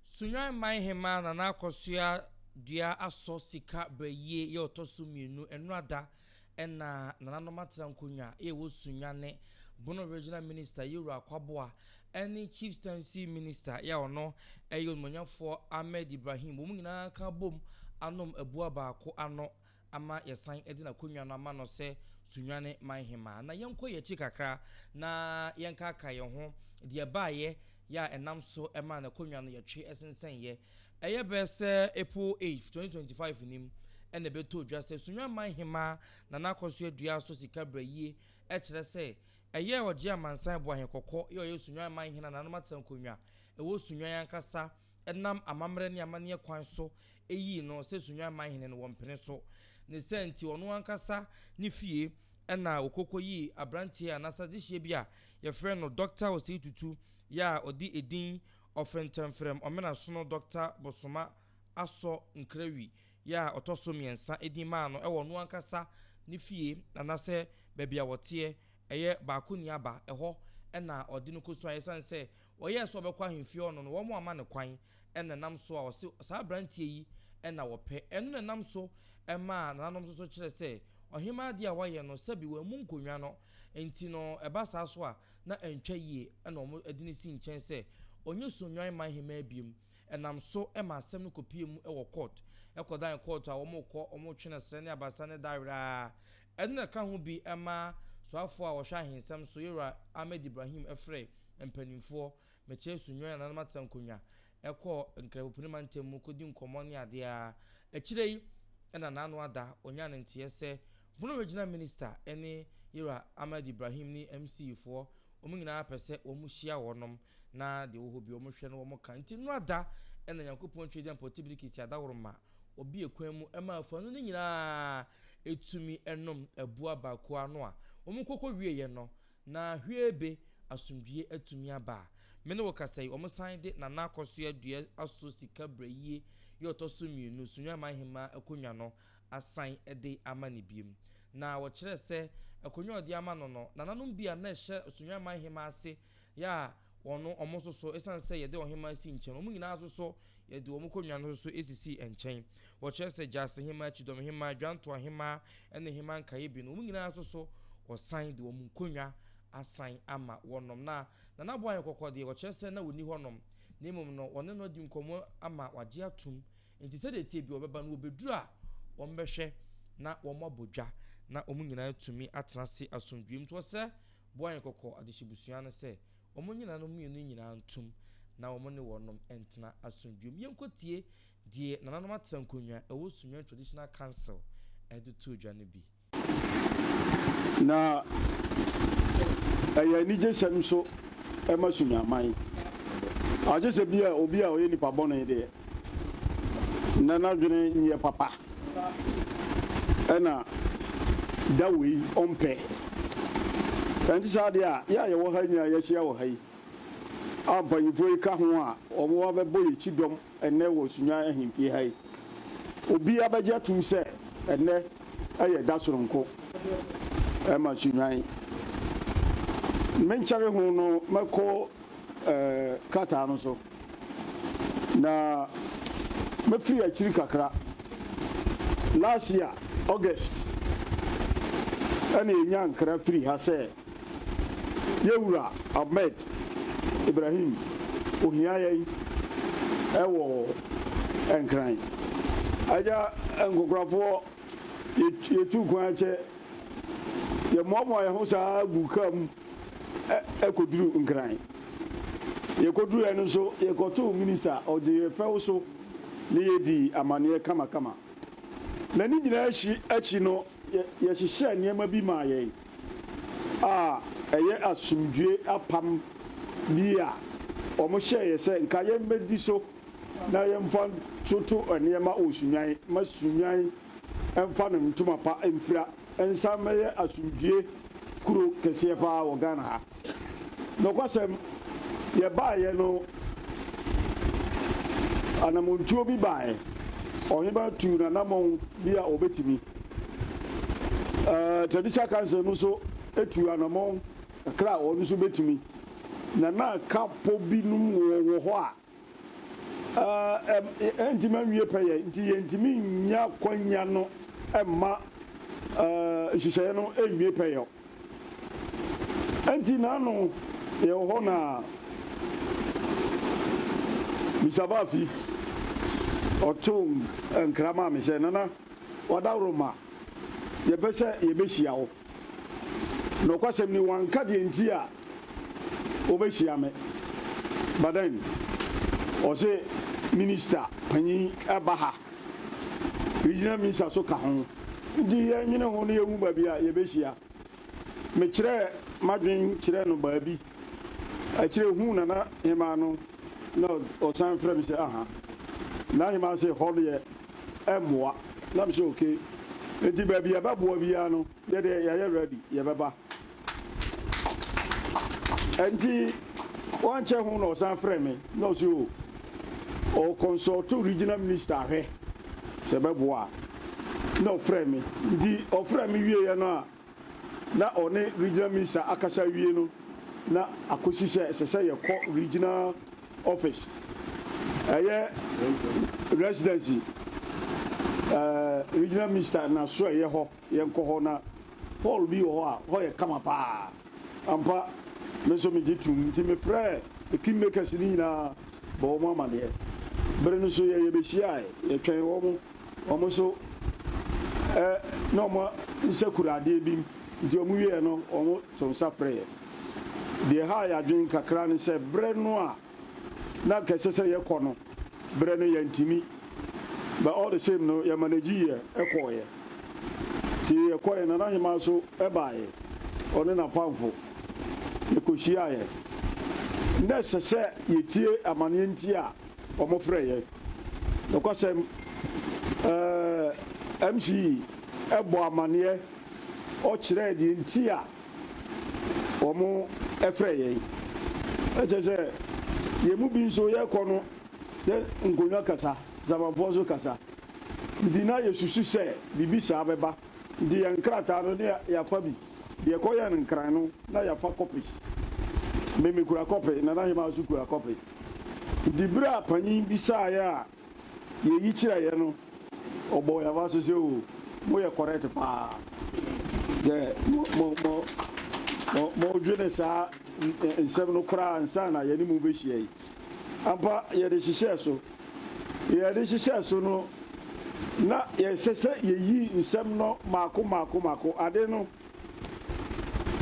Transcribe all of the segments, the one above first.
Sunyani man hemmaa Nana Akosua dua asɔ sika brɛyie yɛ ɔtɔ so mmienu nnora da na nananom atena nkonnwa a ɛwɔ Sunyani. Bono Regional Minister yɛ Wura Akwaboa ne Chieftaincy Minister yɛ ɔno yɛ onimɔnyafoɔ Ahmed Ibrahim wɔn nyinaa ka bom anom abua baako ano ama yɛsan de n'akonnwa no ama no sɛ Sunyane Man Hemmaa. Na yɛnkɔ yɛn akyi kakra na yɛnkaakae yɛn ho deɛ ɛbaeɛ yɛ a ɛnam so maa n'akonnwa no yɛtwe sensɛneeɛ. Ɛyɛ bɛ sɛ April 8, 2025 nim na ɛbɛtɔɔ dwa sɛ Sunyane Man Hemmaa Nana Akosua Aduah so sika brɛ yie kyerɛ sɛ ɛyɛɛ Ɔgye Amansan Boahen Kɔkɔ yɛ ɔyɛ Sunyane Man Hena Nananom Atenankonnwa ɛwɔ Sunyane ankasa nam amammerɛ ne amanneɛ kwan so yii no sɛ Sunwan man hene no, wɔmpene so. Ne saa nti, ɔno ankasa ne fie na ɔkɔ kɔyii aberanteɛ a n'asadehyeɛ bi a wɔfrɛ no Dɔkta Osei Tutu yɛ a ɔde edin Ɔfrɛntɛmfrɛm Ɔmenasono Dɔkta Bosoma Asɔ Nkrawi yɛ a ɔtɔ so mmiɛnsa din maa no wɔ ɔno ankasa ne fie anaasɛ baabi a wɔteɛ, ɛyɛ Baakoniaba, ɛhɔ na ɔde no kɔsuaeɛ. Ɛsiane sɛ Ɔyɛɛ sɛ ɔbɛkɔ ahemfie hɔ no no, wɔamma no kwan, ɛnna ɛnam so a ɔse saa aberanteɛ yi na wɔpɛ. Ɛno na ɛnam so maa nananom nso so kyerɛ sɛ ɔhemmaa adeɛ a wayɛ no, sɛbi wammu nkonnwa no nti no, ɛba saa so a, na antwa yie, ɛnna wɔde no sii nkyɛn sɛ ɔnyɛ Sunnwan man hemmaa biom. Ɛnam so maa asɛm no kɔpuee mu wɔ kɔɔto. Ɛkɔdan kɔɔto a wɔkɔ, wɔtwe no serɛ ne abasa ne da werɛ ara. Ɛno na ɛka ho bi ma soafoɔ a wɔhwɛ ahensɛm so Yewura Ahmed Ibrahim frɛɛ mpaninfoɔ mekyerɛ su nnwan nananom atena nkonwa kɔɔ Nkrɛbopuni mantam mu kɔdi nkɔmmɔ ne adeɛ a akyire yi na naano ada ɔnyaa ne nteɛ sɛ Bono Regional Minista ne Yewura Ahmed Ibrahim ne Mcfoɔ wɔn nyinaa pɛ sɛ wɔn hyia wɔnom Na deɛ ɔwɔ hɔ biara wɔn hwɛ na wɔn ka. Nti noa da na Nyankopɔn Twɛdeɛ mpɔte bi de kesi adaworoma ɔbi ɛkwan mu ɛma afanu no nyinaa ɛtumi ɛnom ɛboa baako ano a wɔn kɔkɔ wieɛ no na hweebe, asomdwie, atumi aba a me ne wo kasa yi wɔn san de Nana Akosua Dua aso sika brayie yɛ ɔtɔ so mmienu Sunyani man hemaa akonwa no asan de ama no biom na wɔkyerɛ sɛ akonwa a ɔde ama no no nananom bi a na ɛhyɛ Sunyani man hemaa ase Yɛ a wɔn no wɔn nso so, esiane sɛ yɛde ɔhemmaa sii nkyɛn no, wɔn nyinaa nso so, yɛde wɔn nkonnwa no nso so sisii nkyɛn. Wɔkyerɛ sɛ Gyasihemmaa, Kyidɔmhemmaa, Dwantoahemmaa, ne Hemmaa Nkaeɛbie no, wɔn nyinaa nso so, wɔsan de wɔn nkonnwa asan ama wɔnom. Na Nana Boayɛ Kɔkɔ deɛ, wɔkyerɛ sɛ na ɔnni hɔnom, na mmom no, wɔne no adi nkɔmmɔ ama wagye atom, enti sɛdeɛ ɛteɛ biara ɔbɛba, na ɔbɛduru a, wɔbɛhwɛ na wɔabɔ dwa, na wɔn nyinaa atumi atena ase asomdwoeɛ mu. Nti wɔsrɛ Bɔ yɛn kɔkɔ adehyebusua no sɛ wɔnnyina no mmienu nyinaa ntom na wɔne wɔnom ntena asomdwoe mu. Yɛnkɔtie deɛ Nananom Atena Nkonnwa a ɛwɔ Sunyani Traditional Council de too dwa no bi. Na ɛyɛ anigyesɛm nso ma Sunyaman. Agye sɛ bia obi a ɔyɛ nipa bɔne deɛ, na n'adwene nyɛ papa na da wei ɔmpɛ. Ɛnte saa deɛ a, yɛ a yɛwɔ ha nyinaa yɛahyia wɔ ha yi, a mpanyimfoɔ yi ka ho a wɔn abɛbɔ yɛn kyidɔm ɛnnɛ wɔ Sunyani Ahemfie ha yi, obi abɛgye atum sɛ ɛnnɛ ɛyɛ da soronko ɛma Sunyani. Menkyɛre ho no mɛkɔ ɛɛ krataa no so. Na mɛfiri akyiri kakra, last year August ɛna yɛnya nkra firi ha sɛ Yɛwura Ahmed Ibrahim ohia yɛn ɛwɔ Nkran. Agya Nkokorafoɔ yɛtuu kwan akyɛ, yɛmoamoa yɛn ho saa guu kaa mu. kɔduru Nkran. Yɛkɔduruiɛ no nso, yɛkɔtoo minista a ɔgyee yɛn fɛw so ne yɛn dii amanneɛ kamakama. Na ne nyinaa akyi akyi no, yɛhyehyɛɛ nneɛma bi maa yɛn a ɛyɛ asomdwoe apam bi a wɔhyɛɛ yɛn sɛ nka yɛmmɛdi so na yɛmfa ntoto nneɛma wɔ Sunnwan mma Sunnwan mfa ne ntoma pa mfira. nsa mmɛyɛ asomdwoeɛ kuro kɛseɛ pa ara wɔ Ghana ha. Nokwasɛm, yɛbaeɛ no, anammɔntuo bi baeɛ. Ɔhemaa tuu n'anammɔn bi a ɔbɛtumi. Ɛɛ, Traditional Council no nso tuu anammɔn kakra a wɔn nso bɛtumi. Na na kapo binom wɔ wɔ hɔ a ɛrentumi nwie pɛyɛ nti yɛntumi nnya akwanya no mma nhyehyɛeɛ no nwie pɛyɛ. Ɛnti naano yɛwɔ hɔ na Mr. Baafi ɔtoo nkra maa me sɛ, Nana, w'adaworoma, yɛpɛ sɛ yɛbɛhyia wo. Nokwasɛm ni, wɔanka deɛ nti a wɔbɛhyia me. But then, wɔse Minister panyin ba ha, Regional Minister nso ka ho, nti yɛnwene ho na yɛhu baabi a yɛbɛhyia. Mekyerɛɛ m'adwene kyerɛɛ no baabi, akyire huu Nana Hemaa no na ɔsan frɛɛ me sɛ, Aha. Nana Hemaa se, Hɔ deɛ mmoa na mehyɛ ok nti baabi ɛbɛboa biara no yɛde yɛyɛ ready yɛbɛba nti wankyɛ ho na ɔsan frɛ me na ɔsi o oh, ɔ consult regional minister ahwɛ sɛ ɛbɛboa na ɔfrɛ me nti ɔfrɛ me wieɛ no a na ɔne Regional Minister akasa awie no na akɔsi sɛ ɛsɛ sɛ yɛkɔ Regional Office, ɛyɛ Residency, ɛɛ Regional Minister n'asoɛeɛ hɔ, yɛnkɔ hɔ na hall bi wɔ hɔ a hɔ yɛ kama paa. Ampa, me nso megye toom. Nti mefrɛɛ the Kingmakers no nyinaa bɔɔ wɔn amaneɛ. Bere no nso yɛn yɛbɛhyiaaɛ, yɛtwɛn wɔn. Wɔn nso ɛ na wɔn nsa kura adeɛ bi mu, nti wɔn wieɛ no wɔto nsa frɛɛ. Deɛ ɛhaa yɛn adwene kakra ne sɛ berɛ no a na anka ɛsɛ sɛ yɛkɔ no, berɛ no yɛantumi. But all the same no yɛ manegyiiɛ kɔeɛ. Nti yɛkɔeɛ, Nana Hemaa nso baeɛ, ɔne n'apamfo. Yɛkɔhyiaaeɛ. Na ɛsɛ sɛ yɛtie amaneɛ nti a. wɔfrɛ yɛn. Nokwasɛm, ɛɛ, MCE bɔɔ amanneɛ, ɔkyerɛɛ deɛ nti a wɔfrɛ yɛn. Na kyerɛ sɛ, yɛn mu bi nso, yɛkɔ no, yɛ nkonnwa kasa, Samanfoɔ nso kasa. Nti na yɛsusu sɛ biribi saa bɛba. Nti yɛn nkrataa no, na yɛafa bi. Deɛ ɛkɔyɛɛ no nkran no, na yɛafa kɔpe. Me, mekura kɔpe, Nana Hemaa nso kura kɔpe. Ntsi ber a panyin bisaa yɛ a yeyi kyerɛ yɛ no, ɔbɔɔ yɛn abaso sɛ, Oh, moyɛ correct paa. Dɛ modwene saa nsɛm no koraa ansaana yɛne mo rebehyia yi. Ampa, yɛde hyehyɛɛ so. Yɛde hyehyɛɛ so no, na ɛsɛ sɛ yeyi nsɛm no mmaako mmaako mmaako. Ade no.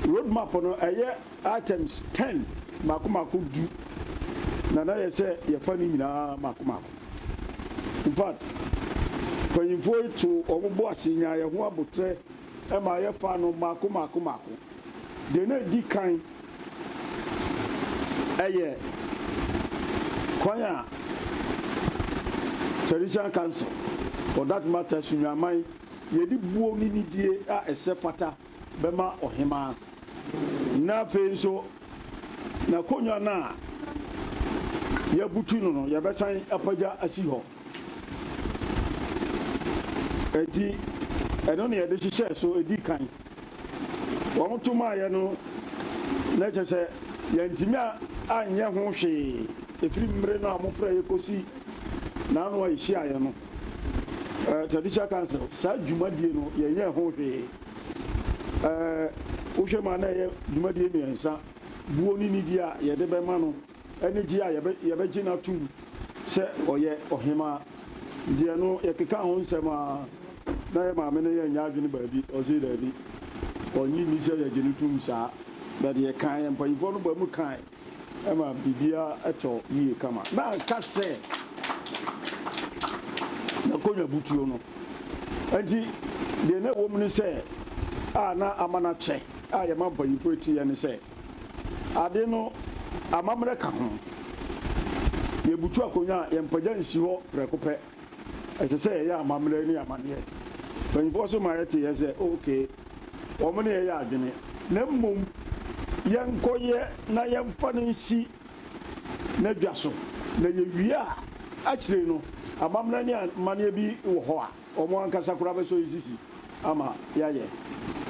Road map no ɛyɛ items ten mako mako du na na yɛ sɛ yɛfa ne nyinaa mako mako. In fact, mpanyinfoɔ yi to wɔn bo ase nyaa yɛn ho abotrɛ ɛma yɛ faa no mako mako mako. Deɛ na edi kan ɛyɛ kwan a Traditional Council for that matter Sunyani Aman Yɛde buo ne nidie a ɛsɛ pata bɛma ɔhemaa, na afei nso n'akonnwa no a yɛabutu no no, yɛbɛsan apagya asi hɔ. Enti, ɛno na yɛde hyehyɛɛ so di kan. Wɔto maeɛ no, na kyerɛ sɛ yɛantumi anyɛ ho hwee ɛfiri mmerɛ no a wɔfrɛeɛ kɔsi n'ano a yɛhyiaeɛ no. eh, traditional council saa dwumadie no yɛnyɛ ho hwee eh, wohwɛ mu a na ɛyɛ dwumadie mmiɛnsa buo ne nidi a yɛde bɛma no ɛne gye a yɛbɛgye no atom sɛ ɔyɛ ɔhemaa deɛ no yɛkeka ho nsɛm a na yɛ maame no yɛnyɛ adwene baabi ɔse daabi ɔnye nni sɛ yɛgye no tom saa bɛde yɛkaeɛ mpanyimfoɔ no ba mu kae ɛma biribiara tɔ yie kama. Na anka sɛ n'akonnwa butuo no. Enti deɛ na ɛwɔ mu ne sɛ, a na ama no akyɛ a yɛma mpanyimfoɔ ti yɛ ne sɛ, ade no amammerɛ ka ho. Yɛbutu akonnwa a, yɛmpagya nsi hɔ prɛko pɛ. Ɛsɛ sɛ yɛyɛ amammerɛ ne amanneɛ. Mpanyimfoɔ nso ma yɛte yɛ sɛ, OK, wɔn ne yɛn yɛ adwene, na mmom yɛnkɔyɛ na yɛmfa no nsi n'adwa so, na yɛwie a, akyire no, amammerɛ ne amanneɛ bi wɔ hɔ a, wɔn ankasa koraa bɛsɔ yɛn sisi ama yɛayɛ.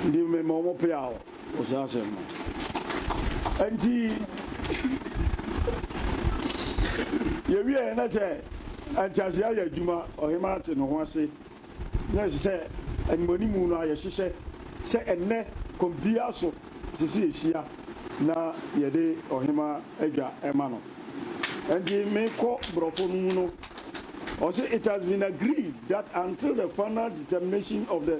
Enti mema wɔn peaw. wɔ saa asɛm no nti yɛwie na sɛ nteaseɛ ayɛ adwuma ɔhema ate ne ho ase na ɛsɛ sɛ animanimu no ayɛhyehyɛ sɛ ɛnɛ kɔmpia so ɛsɛ sɛ yɛhyia na yɛde ɔhema adwa ɛma no nti mekɔ borɔfo no mu no ɔse it has been agreed that until the final determination of the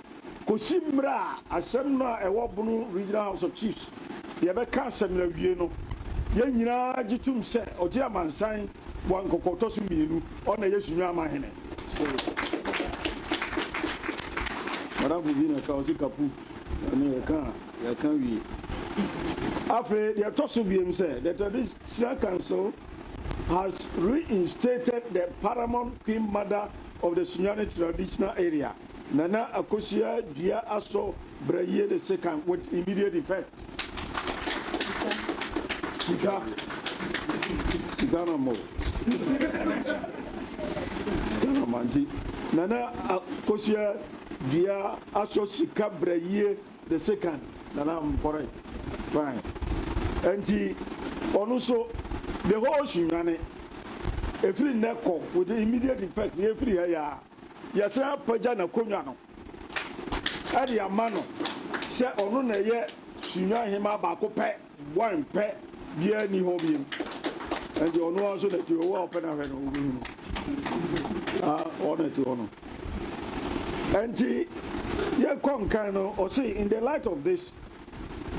Kosi mmerɛ a asɛm no a ɛwɔ Bono Regional House of Chiefs deɛ bɛka asɛm no awie no, yɛn nyinaa gye tom sɛ ɔgye amansan boa nkɔkɔɔtɔ so mmienu, ɔno na Yesu Nwanma Hene. Madamfo bi na ɛka ɔse kaput, ɛno yɛka a yɛka wie. Afei deɛ ɛtɔ so biom sɛ the Traditional Council has reinstated the paramount Queen Mother of the Sunyani Traditional Area. Nana Akosua dua asɔ bra yie de sekan with immediate effect. Sika. Sika na mo. Sika na mo anti. Nana Akosua dua asɔ sika bra yie de sekan. Nana am correct. Fine. Anti ɔno so the whole sunwane. Efiri nnɛ kɔ with immediate effect yɛ firi ha yaa. Yɛasan apagya n'akonnwa no de ama no sɛ ɔno na ɛyɛ Sunyani hemmaa baako pɛ, one pɛ, biara nni hɔ bio. Ɛnti ɔno ara nso na ɛte hɔ, wo a ɔpɛ no ahwɛ no, wobɛhu no. Ah, ɔno na ɛte hɔ no. Ɛnti yɛkɔ nkan no, ɔse, in the light of this,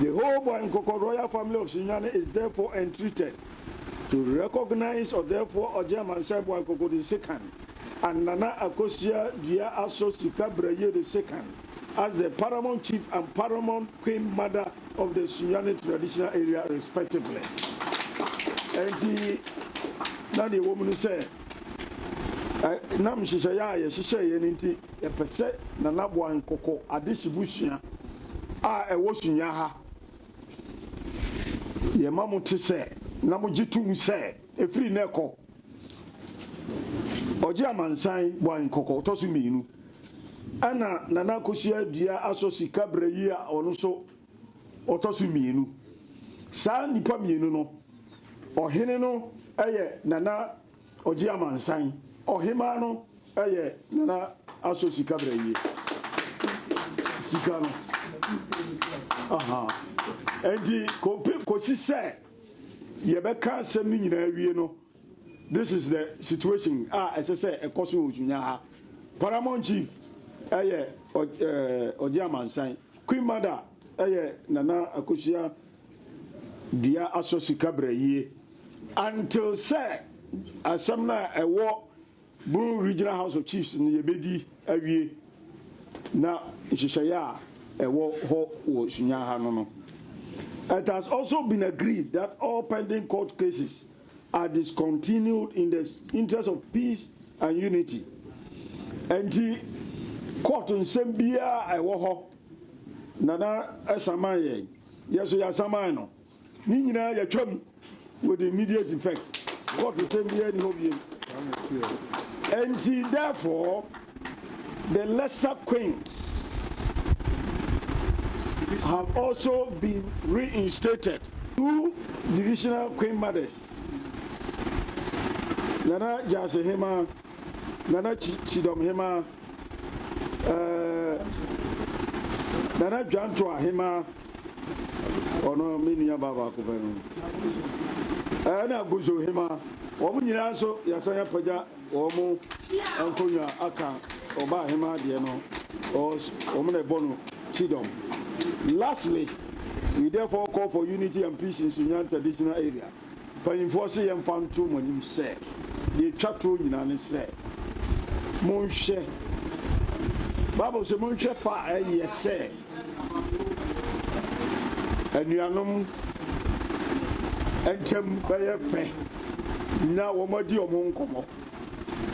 the whole Boankɔkɔ royal family of Sunyani is therefore entreated To recognize ɔdɛɛfoɔ ɔgye amansan boa nkoko de sekan and nana akosua dua aso sika brɛyie de sekan as the paramount chief and paramount queen mother of the sunyani traditional area respectively ɛnti na deɛ wɔ mu no sɛ nam nhyehyɛeɛ a yɛhyehyɛeɛ no nti yɛpɛ sɛ nana boa nkoko ade hyebusua a ɛwɔ sunya ha Yɛma mo te sɛ, na mogye to mu sɛ, ɛfiri nnɛ kɔ, ɔgye amansan bɔ nkɔkɔ ɔtɔ so mmienu. Ɛna Nana Akosua Dua asɔ sika berɛ yi a ɔno nso ɔtɔ so mmienu. Saa nnipa mmienu no, ɔhene no yɛ Nana Ɔgye amansan ɔhemaa no yɛ Nana Aso sika brɛ yie sika no ahaa nti kope kosi sɛ yɛbɛka asɛm no nyinaa wie no this is the situation a ɛsɛ sɛ ɛkɔ so wɔ Osunya ha Paramount Chief ɛyɛ ɔgye amansan Queen Mother ɛyɛ Nana Akosua dua asɔ sika bra yie until sɛ asɛm no a ɛwɔ Bruu Regional House of Chiefs no yɛbɛdi awie na nhyehyɛeɛ a ɛwɔ hɔ wɔ Sunya ha no no. It has also been agreed that all pending court cases are discontinued in the interest of peace and unity. Ɛnti court nsɛm biara a ɛwɔ hɔ Nana saman yɛn, yɛn nso yɛasaman no. Ne nyinaa yɛatwam with immediate effect. Court sɛm biara nni hɔ biom. Enti therefore the lesser queens have also been reinstated. Two divisional queen mothers, Nana Gyasi Hema, Nana Chidom Hema. Ɛɛ Nana Dwanto Ahemaa, ɔno me nua baa baako pɛ no. Ɛna Aguzo Hemaa, wɔn nyinaa nso yɛasan apagya wɔn nkonnwa aka ɔba ahemaa deɛ no, wɔn na ɛbɔ no kyidɔm. Lastly, we therefore call for unity and peace in Sunyani traditional area. Mpanyimfoɔ se yɛmfa nto mo anim sɛ deɛ ɛtwa toɔ nyinaa ne sɛ monhwɛ, Bible se monhwɛ fa a ɛyɛ sɛ anuanom ntam bɛyɛ fɛ na wɔadi wɔn ho nkɔmmɔ.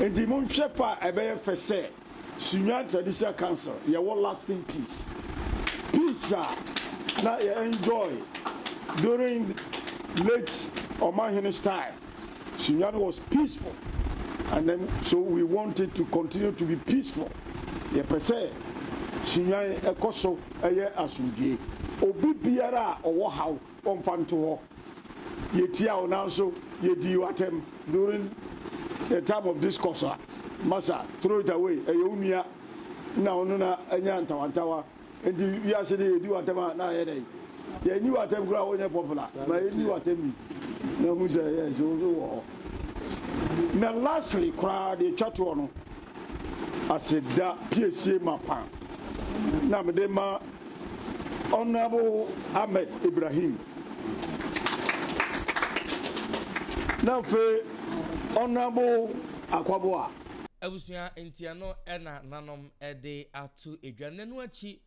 Enti monhwɛ fa a ɛbɛyɛ fɛ sɛ Sunyani Traditional Council yɛwɔ lasting peace, peace a na yɛ enjoy during late Ɔmanhene style, Sunyani was peaceful and then so we want it to continue to be peaceful, yɛpɛ sɛ Sunyani ɛkɔ so ɛyɛ asomdwoe, obi biara a ɔwɔ haw. Wɔmfa nto hɔ. Yɛtia wo nanso yɛdii wo atɛm during the time of discourse a masa throw it away ɛyɛ wo nua na wo no na anya ntawantawa nti wiase no yɛdi wo atɛm a na ayɛ dɛn yɛnyi wo atɛm koraa wonyɛ popular ma yɛnyi wo atɛm bi na hu sɛ yes wo so wɔ hɔ na lastly koraa deɛ twa toɔ no aseda piesie mapa na mede ma Honourable Ahmed Ibrahim na afei Honourable Akwaboah. Abusua nti ɛno na nanom de ato dwa. Nnɛ no akyi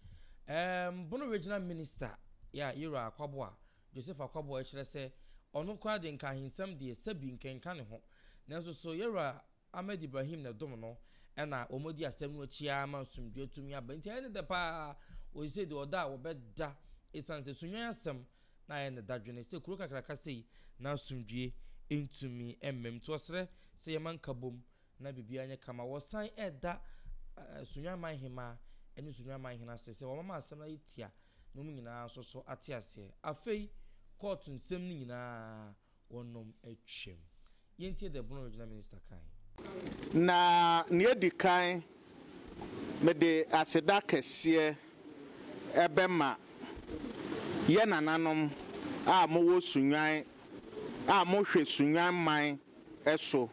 ɛɛm Bono Regional Minister yɛ a Yero Akwaboah, Joseph Akwaboah kyerɛ sɛ ɔno koraa de nka ahensɛm deɛ sɛbi nkenka ne ho. Nanso so Yero Ahmed Ibrahim na dom no na wɔdi asɛm no akyi ara ma nsomdwoeɛ tumi aba. Nti ɛyɛ ne dɛ pa ara ɔsisei deɛ ɔda a wɔbɛda ɛsiane sɛ Sunnwan asɛm na ayɛ ne dadwene sɛ kuro kakraka sei na asomdwoeɛ ntumi mmam. Nti ɔsrɛ sɛ yɛmma nkabom na biribiara nyɛ kama. Wɔsan ɛreda Sunnwan manhemaa ne Sunnwan manhene ase sɛ wɔmama asɛm no ayɛ tia na wɔn nyinaa nso so ate aseɛ. Afei kɔɔto nsɛm no nyinaa Wɔnom atwam. Yɛntie The Bono Original Minister kae. Na nea edi kan, mede aseda kɛseɛ bɛma yɛn nananom a mowɔ Sunyani a mohwɛ Sunyani man so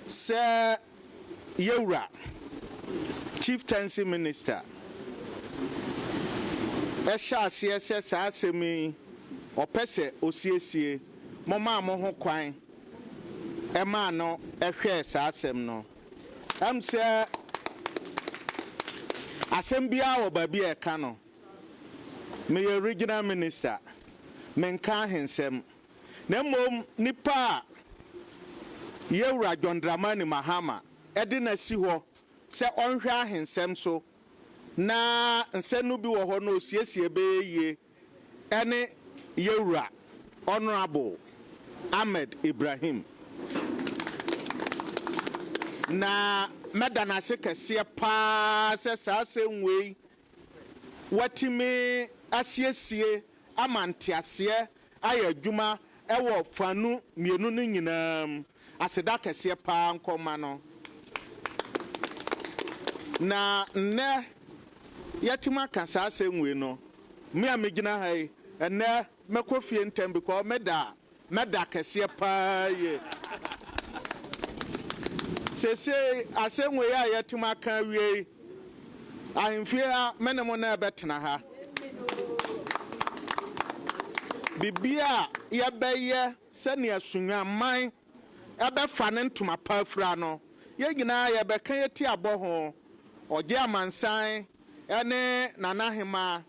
sɛ Yawura, Chieftaincy Minister, hyɛ aseɛ sɛ saa asɛm yi ɔpɛ sɛ ɔsiesie, momaa mo ho kwan maa no hwɛɛ saa asɛm no. Ɛm sɛ asɛm biara wɔ baabi a ɛka no. Meyɛ Regional Minister, menka ahensɛm. na mmom nnipa a Yawura John Dramani Mahama de no asi hɔ sɛ ɔnhwɛ ahensɛm so na nsɛm no bi wɔ hɔ no ɔsiesie bɛyɛ yie ɛne Yawura Honourable Ahmed Ibrahim. Na mɛda no ase kɛseɛ paa sɛ saa asɛm wei wɔatumi asiesie ama nteaseɛ ayɛ adwuma wɔ fanu mmienu no nyinaa mu. Aseda kɛseɛ pa ara nkɔ mma no. Na nnɛ yɛatumi aka saa asɛm wei no, me a megyina ha yi, ɛnnɛ mɛkɔ fie ntɛm because meda na da kɛseɛ paa yie. Sesei asɛm wei a yɛatum aka awie yi, ahemfie ha me ne mo na ɛbɛtena ha. Bibi a yɛbɛyɛ sɛnea sunwaman ɛbɛfa ne ntoma pa afira no, yɛn nyinaa yɛbɛka yɛti abɔ ho. Ɔgye amansan ne Nana Hemaa,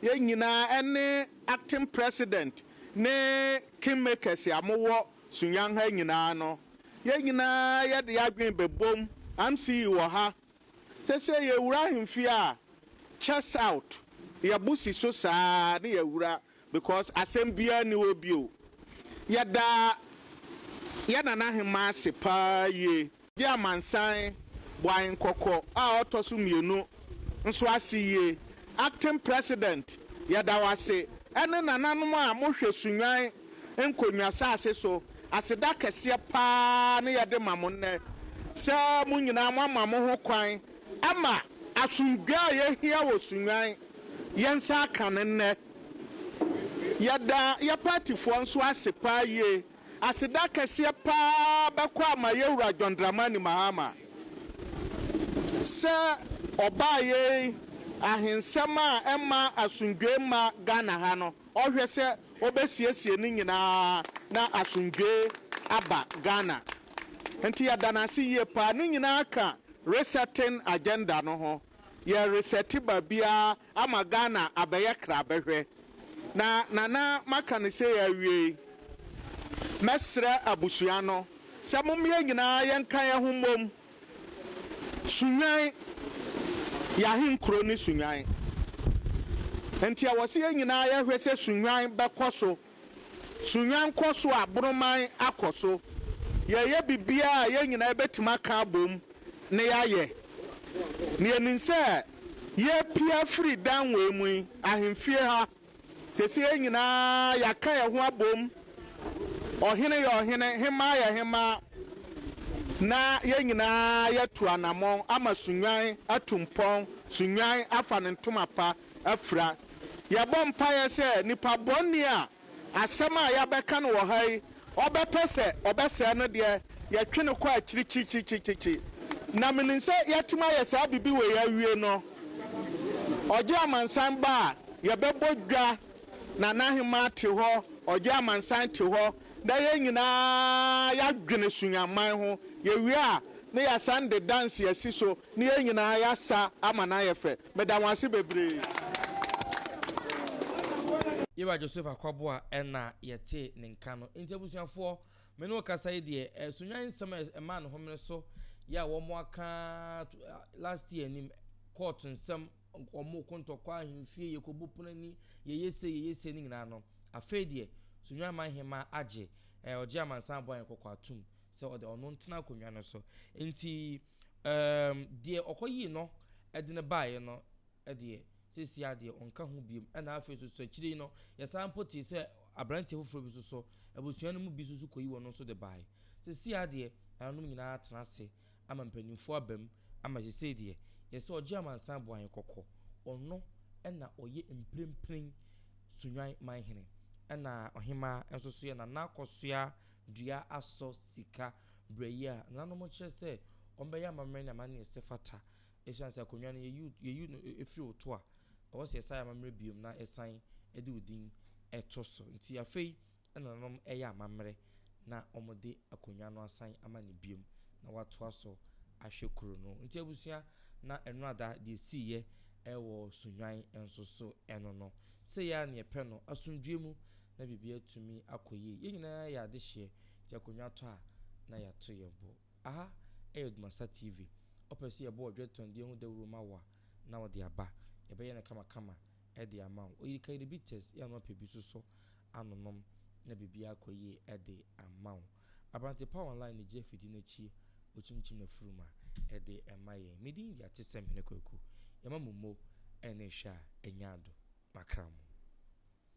yɛn nyinaa ne acting president ne king makers a mowɔ Sunyang ha nyinaa no, yɛn nyinaa yɛde yɛn adwene bɛbom, Amsi wɔ ha, seesei yɛwura ahemfie a, chest out, yɛbo si so saa na yɛawura, Because asɛm biara nni hɔ bio. Yɛda yɛn Nana Hemaa ase paa yie. Gye amansan Boae Nkɔkɔ a ɔtɔ so mmienu nso ase yie. Acting President, yɛda wo ase, ɛne nananom a mohwɛ Sunnwan nkonnwa saase so. Aseda kɛseɛ paa ne yɛde ma mo nnɛ sɛ mo nyinaa moama mo ho kwan ama asomdwoeɛ a yɛhia wɔ Sunnwan, yɛn nsa aka no nnɛ. Yɛda yɛ paatifoɔ nso ase paa yie. Aseda kɛseɛ paa bɛkɔ ama yɛ Wura John Dramani Mahama sɛ ɔbaa yei ahensɛm a ɛma asomdwoeɛ mma Ghana ha no, ɔhwɛ sɛ ɔbɛsiesie ne nyinaa na asomdwoeɛ aba Ghana. Nti yɛda no ase yie paa. Ne nyinaa ka resetting agenda no ho. Yɛ resɛte baabiara ama Ghana abɛyɛ krabɛhwɛ. Na Nana maka no sei awiei. Mɛsrɛ abusua no sɛ mom yɛn nyinaa yɛnka yɛn ho mmom. Sunyani yɛ ahenkuro ne Sunyani. Nti ɛwɔ sɛ yɛn nyinaa yɛhwɛ sɛ Sunyani bɛkɔ so. Sunya nkɔso a Boroman akɔ so, Yɛreyɛ biribiara a yɛn nyinaa yɛbɛtumi aka abom na yɛayɛ, na yɛnim sɛ yɛrepue afiri dan wei mu yi, ahemfie ha, seesei yɛn nyinaa yɛaka yɛn ho abom, ɔhene yɛ ɔhene, hemmaa yɛ hemmaa, na yɛn nyinaa yɛatu anammɔn ama Sunyan atu mpɔn, Sunyan afa ne ntoma pa. afira. Yɛbɔ mpaeɛ sɛ nipa bɔne a asɛm a yɛabɛka no wɔ ha yi, ɔbɛpɛ sɛ ɔbɛsɛe no deɛ, yɛtwe no kɔ akyiri kyikyikyikyi. Na menim sɛ yɛatumi ayɛ saa biribi wei awie no, Ɔgye Amansan ba a, yɛbɛbɔ dwa na N'ahemmaa te hɔ, Ɔgye Amansan te hɔ, na yɛn nyinaa yɛadwene Sunyamman ho. Yɛwie a, na yɛasan de dansi asi so, na yɛn nyinaa yɛasa ama no ayɛ fɛ. Meda mo ase bebree. Yɛwura Josefa Kwaboa na yɛtee ne nka no. Nti abusuafoɔ, me ne wo kasa yi deɛ, eh, Sunnyan nsɛm a ɛmaa ne homene so yɛ a wɔn aka to eh, last year anim, court nsɛm, wɔn ko ntɔkwa ahemfie, yɛkɔbu pono ani, yɛyɛ se, yɛyɛ se ne nyinaa no. Afei deɛ, Sunnyan man hema agye, eh, ɔgye amansan abɔ ayɛn kɔkɔ atom sɛ ɔde ɔno ntena akonnwa no so. Nti, Erm, deɛ ɔkɔyii no de no baeɛ no deɛ, seesei ara deɛ ɔnka ho biom. Ɛna afei nso so akyire yi no, yɛsan mpo tee sɛ aberanteɛ foforɔ bi nso so, abusua no mu bi nso so kɔyi wɔn nso de baeɛ. Seesei ara deɛ, nananom nyinaa atena ase ama mpanimfoɔ aba mu ama seesei deɛ, yɛse sɛ ɔgye amansan bɔ ahe kɔkɔ. Ɔno na ɔyɛ mprempren Sunyani manhene. Ɛna ɔhemmaa nso so yɛ Nana Akosua Duah Asɔ Sika. Berɛ yi a nananom kyerɛ sɛ wɔbɛyɛ amammerɛ ne amanneɛ sɛ fata ɛsiane sɛ akonnwa no yɛyi yɛyi no ɛfiri wo to a, ɛwɔ sɛ yɛsan yɛ amammerɛ biom na yɛsan de wo din ɛto so. Nti afei na nananom ɛyɛ amammerɛ na wɔde akonnwa no asan ama no biom na watoa so ahwɛ kuro no. Nti abusua na Ɛnoada deɛ ɛsiiɛ ɛwɔ Sunnwan nso so ɛno no. Sei ara na yɛpɛ no, asomdwoeɛ mu na biribi atumi akɔ yie. Yɛn nyinaa yɛ adehyeɛ, nti akonnwa tɔ a, na yɛato yɛn bo. Aha yɛ Dumasa TV. Wopɛ sɛ yɛbɔ Ɔdwetɔndeɛ ho dawuro ma wo a, na wode aba. Yɛbɛyɛ no kamakama de ama wo. Oyirikairi bitters yɛ anoa pɛ bi sosɔ ano nom na biribiara akɔ yie de ama wo. Aberante pa online no gye afidie no akyie ɔkyimkyim n'afurum a, ɛde ma yɛn. Me din de Atesɛmhene Kwaku. Yɛma mo mo ne hwɛ a, ɛnya ado. Makramo.